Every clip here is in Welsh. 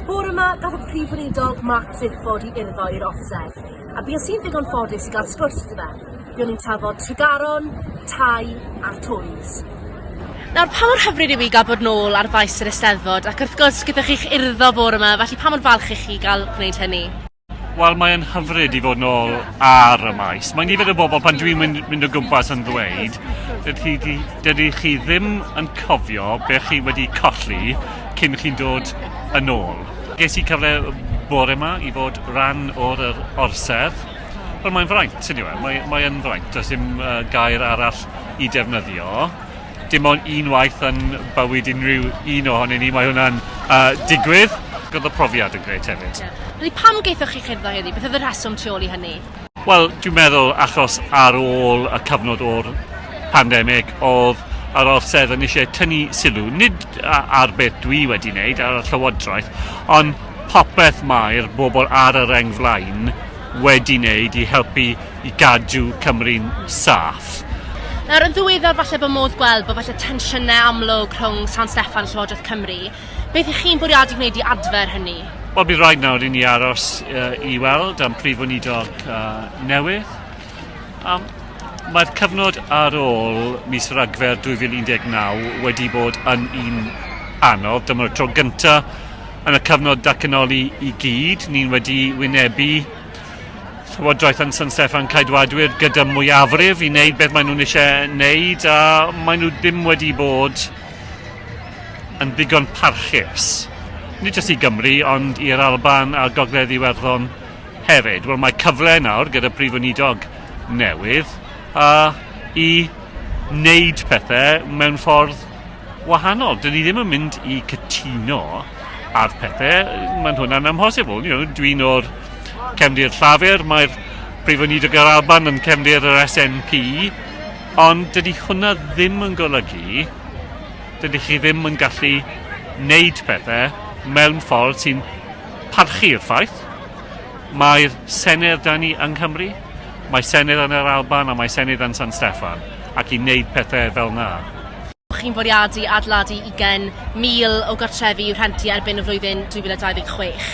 Bore 'ma, gath y Prif Weinidog Mark Drakeford i urddo i'r Orsedd, a bues i'n ddigon ffodus i gael sgwrs gyda fe. Buon ni'n trafod Tregaron, tai a'r Tories. Nawr, pa mor hyfryd yw i gael bod nôl ar faes yr Eisteddfod, ac wrth gwrs gyda chi'ch urddo bore 'ma, felly pa mor falch ych chi gael gwneud hynny? Wel, mae'n hyfryd i fod yn ôl ar y maes. Mae nifer o bobl, pan dwi'n mynd, mynd o gwmpas yn ddweud, dydy, dydy chi ddim yn cofio be chi wedi colli cyn chi'n dod yn ôl. Ges i cyfle bore yma i fod rhan o'r yr orsedd. Wel, mae'n fraint, yn yw e? Mae, mae'n fraint, does dim uh, gair arall i defnyddio. dim ond un waith yn bywyd unrhyw un ohonyn ni, mae hwnna'n uh, digwydd. Oedd y profiad yn gret hefyd. Yeah. Pam geithoch chi cherddo heddi? Beth oedd y rheswm tu ôl i hynny? Wel, dwi'n meddwl achos ar ôl y cyfnod o'r pandemig oedd yr orsedd yn eisiau tynnu sylw, nid ar beth dwi wedi wneud ar y llywodraeth, ond popeth mae'r bobl ar y reng flaen wedi wneud i helpu i gadw Cymru'n saff. Nawr, yn ddiweddar falle bod modd gweld bod falle tensiynau amlwg rhwng San Steffan a Llywodraeth Cymru. Beth ych chi'n bwriadu gwneud i adfer hynny? Wel, bydd rhaid nawr i ni aros uh, i weld am prif weinidog uh, newydd. Um, Mae'r cyfnod ar ôl mis Ragfyr 2019 wedi bod yn un anodd. Dyma'r tro gyntaf yn y cyfnod datganoli i gyd. Ni'n wedi wynebu Llywodraeth yn San Steffan Caedwadwyr gyda mwyafrif i wneud beth maen nhw'n eisiau wneud a maen nhw ddim wedi bod yn ddigon parchus. Nid jyst i Gymru ond i'r Alban a Gogledd Iwerddon hefyd. Wel mae cyfle nawr gyda Prif Weinidog newydd a i wneud pethau mewn ffordd wahanol. Dyn ni ddim yn mynd i cytuno ar pethau, mae'n hwnna'n amhosibl. You know, dwi'n o'r cefndir llafur, mae'r Prif Weinidog yr Alban yn cefndir yr SNP, ond dydy hwnna ddim yn golygu, dydy chi ddim yn gallu wneud pethau mewn ffordd sy'n parchu'r ffaith. Mae'r Senedd da ni yng Nghymru, mae Senedd yn yr Alban a mae Senedd yn San Steffan. ac i wneud pethau fel 'na. Chi'n bwriadu adeiladu ugain mil o gartrefi i'w rhentu erbyn y flwyddyn 2026.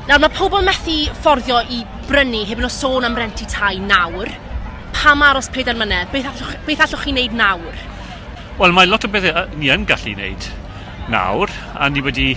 Nawr, mae pobl methu fforddio i brynu, heb yno sôn am rentu tai nawr. Pam aros pedair mlynedd? Beth allwch, beth allwch chi wneud nawr? Wel, mae lot o bethau ni yn gallu wneud nawr, a ni wedi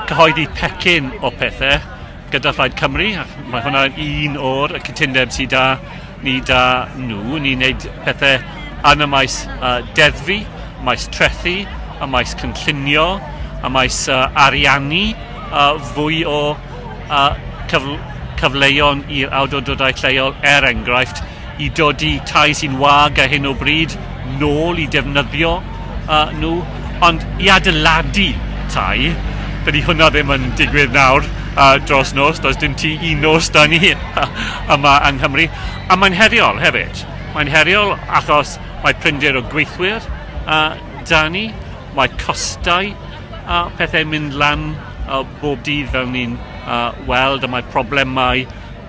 cyhoeddi pecyn o pethau, gyda Phlaid Cymru, ac mae hwnna un o'r cytundeb sydd da ni da nhw. Ni'n gwneud pethau yn y maes uh, deddfu, maes trethu, y maes cynllunio, y maes uh, ariannu, uh, fwy o uh, cyfl cyfleuon i'r awdurdodau lleol er enghraifft i dodi tai sy'n wag ar hyn o bryd nôl i defnyddio uh, nhw, ond i adeiladu tai, dydy hwnna ddim yn digwydd nawr uh, dros nos, does dim ti i nos da ni yma yng Nghymru. A mae'n heriol hefyd. Mae'n heriol achos mae prinder o gweithwyr uh, da ni, mae costau a uh, pethau mynd lan uh, bob dydd fel ni'n uh, weld, a mae problemau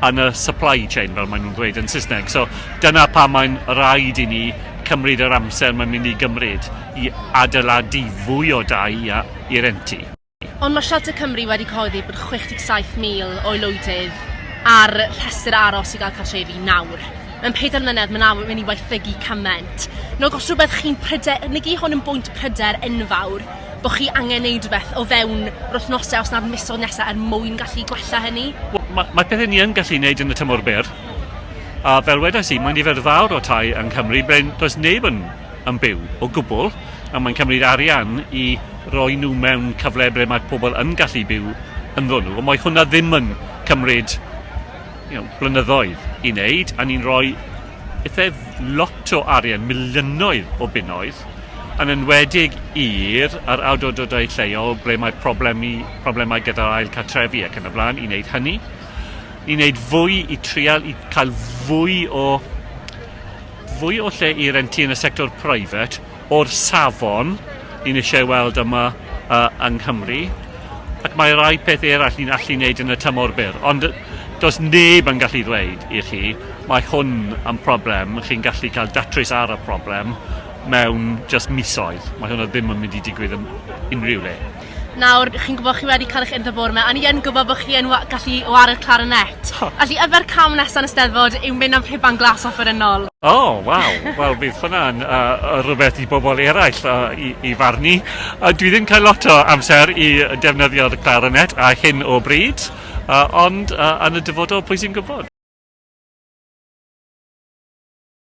yn y supply chain fel maen nhw'n dweud yn Saesneg. So dyna pa mae'n rhaid i ni cymryd yr amser mae'n mynd i gymryd i adeiladu fwy o dai i rentu. Ond mae Shelter Cymru wedi cyhoeddi bod 67,000 o aelwydydd ar rhestr aros i gael cartrefi nawr. Mewn pedair mlynedd mae'n awr mynd i waethygu cymaint. Nog os rhywbeth chi'n pryder, negi hwn yn bwynt pryder enfawr, bo chi angen neud rhywbeth o fewn yr wythnose os na'r misodd nesa er mwyn gallu gwella hynny? Wel, ma, mae pethau ni yn gallu neud yn y tymor byr. A fel wedais i, mae nifer fawr o tai yng Nghymru ble does neb yn, yn byw o gwbl, a mae'n cymryd arian i roi nhw mewn cyfle ble mae pobl yn gallu byw ynddo nhw, ond mae hwnna ddim yn cymryd you know, blynyddoedd i wneud, a ni'n rhoi Aethaf lot o arian, miliynoedd o bunnoedd, yn enwedig i'r yr awdurdodau lleol ble mae problemi, problemau gyda'r ail cartrefi ac yn y blaen, i wneud hynny, i wneud fwy, i trial, i cael fwy o fwy o lle i rentu yn y sector private, o'r safon ni'n eisiau ei weld yma yy yng Nghymru ac mae rai peth eraill ni'n allu wneud yn y tymor byr ond yy does neb yn gallu ddweud i chi mae hwn yn problem chi'n gallu cael datrys ar y problem mewn jyst misoedd mae hwnna ddim yn mynd i digwydd yn unrhyw le. Nawr, chi'n gwybod chi wedi cael eich undod bore yma, a ni yn gwybod bod chi yn wa- gallu wared clarinet. Ha! Felly, yfe'r cam nesaf yn y Steddfod yw mynd am rhuban glas offerynnol. O, waw! Wel, bydd hwnna'n uh, uh, rhywbeth i bobl eraill uh, i, i farnu. Uh, dwi ddim cael lot o amser i defnyddio'r clarinet a hyn o bryd, uh, ond uh, yn y dyfodol, pwy sy'n gwybod?